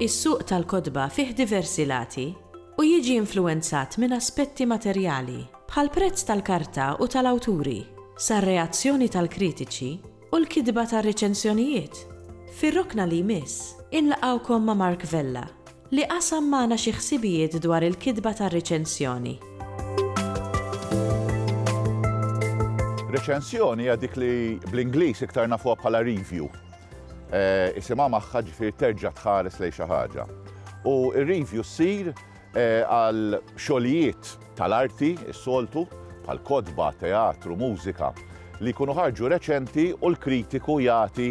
Is-suq tal-kotba fih diversi lati u jiġi influwenzat minn aspetti materjali, bħall-prezz tal-karta u tal-awturi, sar-reazzjoni tal-kritiċi, U l-kitba tar-reċensjonijiet fir-rokna li jmiss. Inlaqgħukom ma' Mark Vella li qasam magħna xi ħsibijiet dwar il-kitba tar-reċensjoni. Reċensjoni hija dik li bl-Ingliż iktar nafuha bħala review. Isimha magħha ġifieri terġa' tħares lejn xi ħaġa. U r-review ssir għal xogħlijiet tal-arti s-soltu, bħal kotba, teatru, mużika, li jkunu ħarġu reċenti u l-kritiku jagħti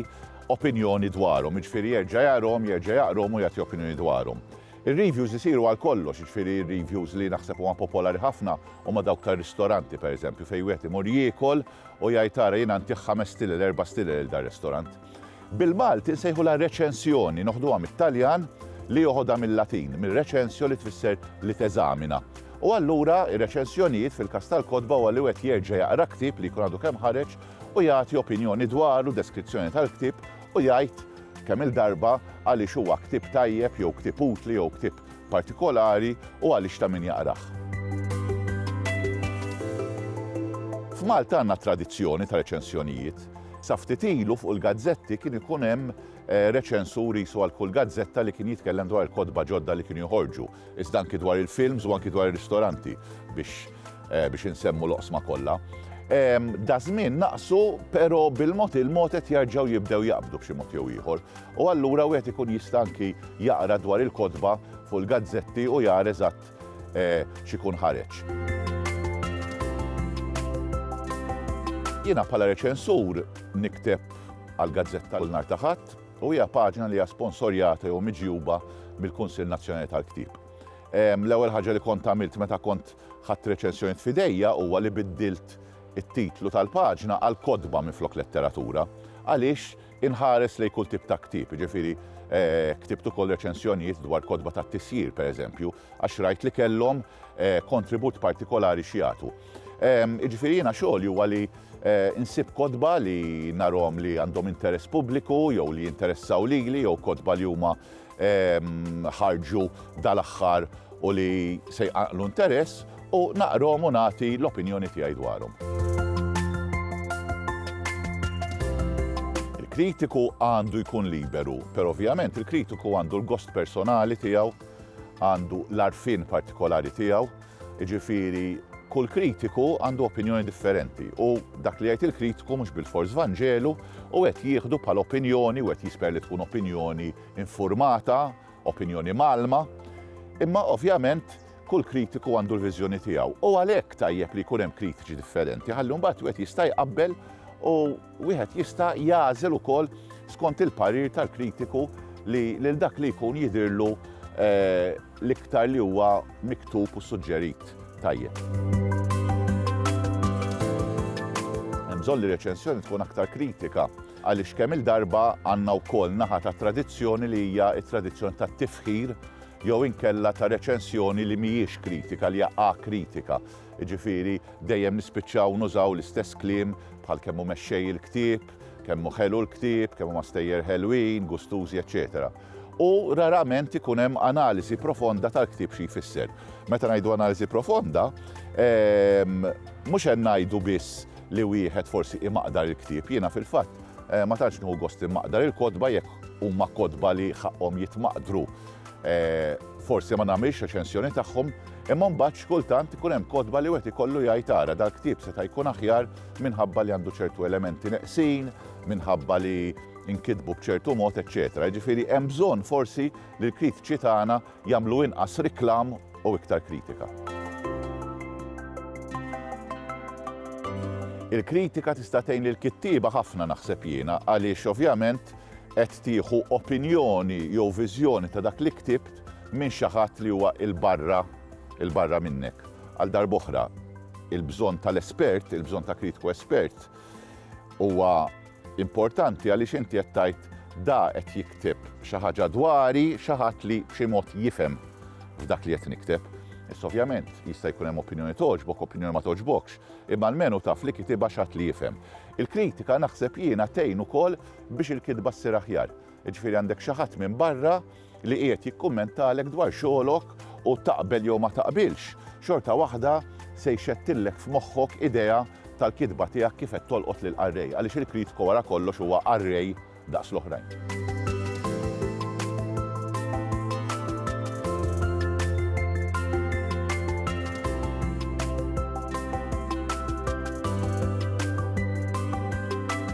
opinjoni dwarhom, jiġifieri jerġa' jarahom, jerġa' jaqrahom u jagħti opinjoni dwarhom. Ir-reviews isiru għal kollox, jiġifieri r-reviews li naħseb huma popolari ħafna huma dawk tar-ristoranti, pereżempju, fejn wieħed imur jiekol u jgħid ara jiena ntih ħames stile, l-erba' stile lil dar-ristorant. Bil-Malti nsejħulha reċensjoni, noħduha mit-Taljan li joħodha mil-Latin, minn recensio li tfisser li teżamina. U allura ir-reċensjonijiet fil-każ tal-kotba huwa li wieħed jerġa' jaqra ktieb li jkun għadu kemm ħareġ u jagħti opinjoni dwaru, deskrizzjoni tal-ktieb u jgħid kemm-il darba għaliex huwa ktieb tajjeb jew ktieb utli jew ktieb partikolari u għaliex ta' min jaqrah. F'Malta għandna tradizzjoni ta' reċensjonijiet. Sa ftit ilu fuq il-gazzetti kien ikun hemm reċensur qisu għal kull gazzetta li kien jitkellem dwar il-kotba ġodda li kienu joħorġu, iżda anki dwar il-films u anki dwar ir-ristoranti biex biex insemmu l-oqsma kollha. Daż-żmien naqsu, però bil-mod il-mod qed jarġgħu jibdew jaqbdu b'xi mod jew ieħor. u allura wieħed ikun jista' anki jaqra dwar il-kotba fuq il-gazzetti u jara eżatt x'ikun ħareġ. Jiena bħala reċensur nikteb għall-gazzetta kull nhar ta' Ħadd u hija paġna li hija sponsorjata jew miġjuba mill-Kunsill Nazzjonali tal-Ktieb. L-ewwel ħaġa li kont għamilt meta kont ħadt reċensjonijiet f'idejja huwa li biddilt it-titlu tal-paġna għal kotba minflok letteratura għaliex Inħares lejn kull tip ta' ktieb, jiġifieri ktibt ukoll reċensjonijiet dwar kotba tat-tisjir, pereżempju, għax rajt li kellhom kontribut partikolari x'jagħtu. Jiġifieri jiena xogħli huwa li nsib kotba li narhom li għandhom interess pubbliku jew li jinteressaw lili jew kotba li huma ħarġu dal-aħħar u li se jqaqlu interess u naqrom u nagħti l-opinjoni tiegħi dwarhom. Il-kritiku għandu jkun liberu, per ovvjament il-kritiku għandu l-gost personali tiegħu, għandu l-arfin partikolari tiegħu, Jiġifieri kull kritiku għandu opinjoni differenti u dak li jgħid il-kritiku mhux bilfors Vanġelu u qed jieħdu bħala opinjoni u qed jisper li tkun opinjoni infurmata, opinjoni mgħallma. Imma ovvjament kull kritiku għandu l-viżjoni tiegħu u għalhekk tajjeb li jkun hemm kritiċi differenti ħalli mbagħad wieħed jista' jqabbel u Wieħed jista' jagħżel ukoll skont il-parir tal-kritiku li lil dak li jkun jidhirlu l-iktar li huwa miktub u suġġerit tajjeb. Hemm bżonn li reċensjoni tkun aktar kritika għaliex kemm il-darba għandna wkoll naħa ta' tradizzjoni li hija t-tradizzjoni tat-tifħir jew inkella ta' reċensjoni li mhijiex kritika li hija akritika. Jiġifieri dejjem nispiċċaw nużaw l-istess kliem bħal kemm hu mexxej il-ktieb, kemm hu ħelu l-ktieb, kemm huma stejjer ħelwin, gustużi, eċċetera. U rarament ikun hemm analiżi profonda tal-ktieb xi jfisser. Meta ngħidu analiżi profonda, ehm, mhux qed ngħidu biss li wieħed forsi imaqdar il-ktieb. Jiena fil-fatt eh, ma tantx nieħu gost imaqdar il-kotba jekk huma kotba li ħaqqhom jitmaqdru. Eh, Forsi ma nagħmilx reċensjoni tagħhom, imma mbagħad x'kultant ikun hemm kotba li wieħed ikollu jgħid ara dal-ktieb seta' jkun aħjar minħabba li għandu ċertu elementi neqsin, minħabba li nkitbu b'ċertu mod, eċċetera. Jiġifieri hemm bżonn forsi li l-kritiċi tagħna jagħmlu inqas riklam u iktar kritika. Il-kritika tista' tgħin lil kittieba ħafna naħseb jiena għaliex ovvjament qed tieħu opinjoni jew viżjoni ta' dak li ktibt minn xi ħadd li huwa 'l barra, 'l barra minnek. Għal darb'oħra, il-bżonn tal-espert, il-bżonn ta' kritiku espert huwa importanti għaliex inti qed tgħid da qed jikteb xi ħaġa dwari xi ħadd li b'xi mod jifhem f'dak li qed nikteb. Issa ovvjament jista' jkun hemm opinjoni togħġbok, opinjoni ma togħġbokx, imma almenu taf li kitibha xi ħadd li jifhem. Il-kritika naħseb jiena tgħin ukoll biex il-kitba ssir aħjar. Jiġifieri għandek xi ħadd minn barra li qiegħed jikkummentalek dwar xogħolok u taqbel jew ma taqbilx, xorta waħda se jxettillek f'moħħok idea tal-kitba tiegħek kif qed tolqot lill-qarrej, għaliex il-kritku wara kollox huwa qarrej daqs l-oħrajn.